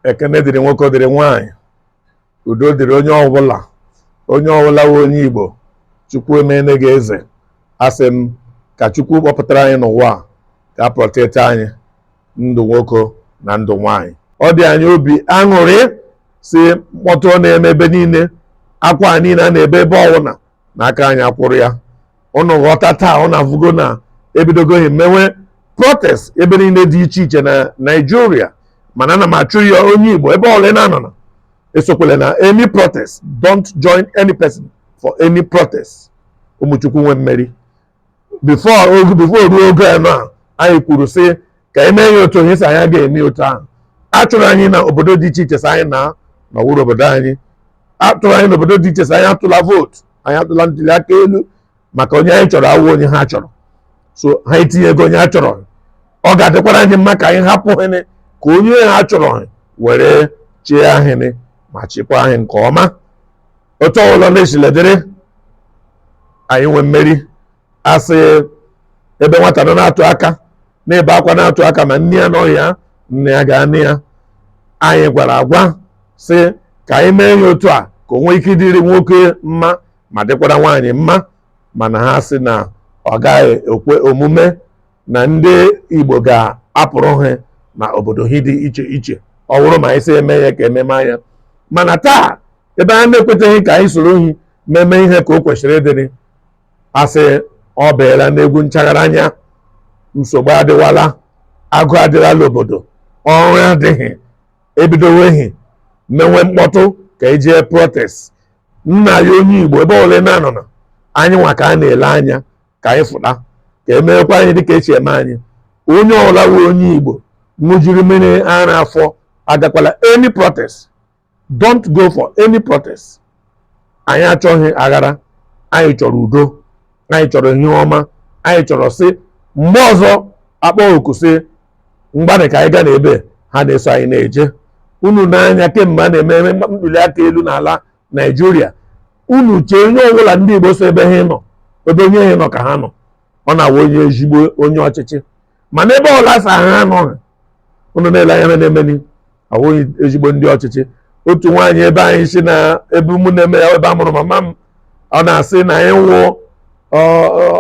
ekene dịrị nwoke dịrị nwaanyị udo dịrị onye ọbụla onye ọbụla wụ onye igbo chukwu emene gị eze asị m ka chukwu kpọpụtara anyị n'ụwa a ka protect anyị ndụ nwoke na ndụ nwaanyị ọ dị anyị obi aṅụrị sị mkpọtụ na-eme ebe niile akwa niile a na-ebe ebe ọwụna na aka anyị akwụrụ ya ụnụ ghọta taa ụnụ afụgo na ebidogo hị mewe protest ebe niile dị iche iche na naijiria mana ana m achụ ya onye igbo ebe ọla ị na-anọ na esokwele na any protest don't join any person for any protest ụmụ chukwu nwe mmeri before ruo oge a na anyị kwuru sị ka anyị mee ya otu onye sị anyị ga-eme otu ahụ a chụrụ anyị na obodo dị iche iche sị anyị na ọ wụrụ obodo anyị a chụrụ anyị n'obodo dị iche sị anyị atụla vootu anyị atụla ntuli aka elu maka onye anyị chọrọ awụ onye ha chọrọ so ha etinyego onye ha chọrọ ọ ga-adịkwara anyị mma ka anyị hapụ hị nị ka onye ha chọrọ were chịa hị nị ma chịkwa anyị nke ọma otu ọbụla na-esile dịrị anyị nwe mmeri asị ebe nwata nọ na-atụ aka na-ebe akwa na-atụ aka ma nna ya anọghị ya nne ya ga-anọ ya anyị gwara agwa sị ka anyị mee ya otu a ka o nwee ike ịdịrị nwoke mma ma dịkwara nwaanyị mma mana ha sị na ọ gaghị ekwe omume na ndị Igbo ga-apụrụ ha na obodo ha dị iche iche ọ bụrụ ma anyị sị eme ya ka ememe anya mana taa ebe ha na-ekwetaghị ka anyị soro hị meme ihe ka o kwesịrị ịdịrị asị ọ baala n'egwu nchaghara anya nsogbu adịwala agụụ adịrala obodo ọrụ adịghị ebidowe hị mewe mkpọtụ ka ejee protest nna ya onye igbo ebe ọwụla na-anọ na anyị nwa ka a na-ele anya ka anyị fụta ka emeekwa anyị dịka esi eme anyị onye ọla wụ onye igbo ṅụjiri mmiri ara afọ agakwala any protest don't go for any protest anyị achọghị aghara anyị chọrọ udo anyị chọrọ ihe ọma anyị chọrọ sị mgbe ọzọ akpọ oku sị ngwanị ka anyị gaa n'ebe ha na-eso anyị na-eje unu nee anya kemgbe a na-eme eme ntuli aka elu n'ala naijiria unu chee onye ọbụla ndị igbo so ebe ha nọ ebe onye ha nọ ka ha nọ ọ na-awụ onye ezigbo onye ọchịchị mana ebe ọla sị ha anọghị unu na-ele anya na-emeri awụghị ezigbo ndị ọchịchị otu nwaanyị ebe anyị si na ebe ụmụnne m ebe a mụrụ mama m ọ na-asị na anyị nwụọ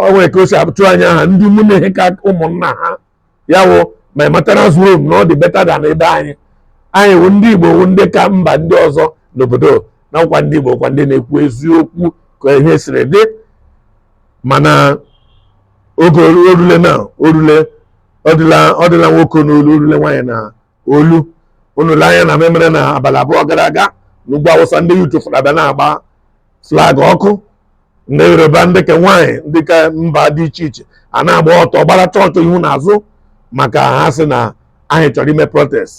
onwe ka o si abụtụ anyị aha ndị mụ na hị ka ụmụnna ha ya wụ my maternal home na ọ dị better than ebe anyị anyị wụ ndị Igbo wụ ndị ka mba ndị ọzọ n'obodo na ọ wụkwa ndị Igbo wụkwa ndị na-ekwu eziokwu ka ihe siri dị mana oge orule na orule ọ dịla nwoke n'olu orule nwaanyị na olu unu lee anya n'ihe mere na abalị abụọ gara aga n'ugwu awụsa ndị youth abịa na-agba flag ọkụ ndị yoruba ndị ka nwaanyị ndị ka mba dị iche iche a na-agba ọtọ gbara chọọchị ihu na azụ maka ha sị na anyị chọrọ ime protest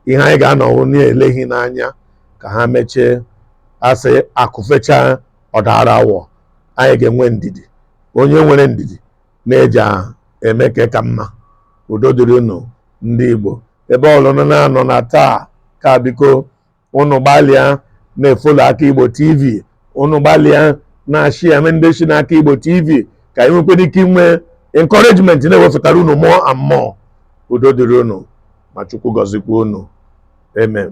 ihe anyị ga-anọ wụ na-ele hị n'anya ka ha mechaa a sị akụ fechaa ọ daara awọ anyị ga-enwe ndidi onye nwere ndidi na-eji eme ka ka mma udo dịrị unu ndị Igbo ebe ọbụla unu na-anọ na taa ka biko unu gbalịa na-efollow aka Igbo TV unu gbalịa na-ashare ndị si n'aka Igbo TV ka anyị nwekwara ike inwe encouragement na-ewepụtara unu more and more udo dịrị unu ma Chukwu gọzikwa unu amen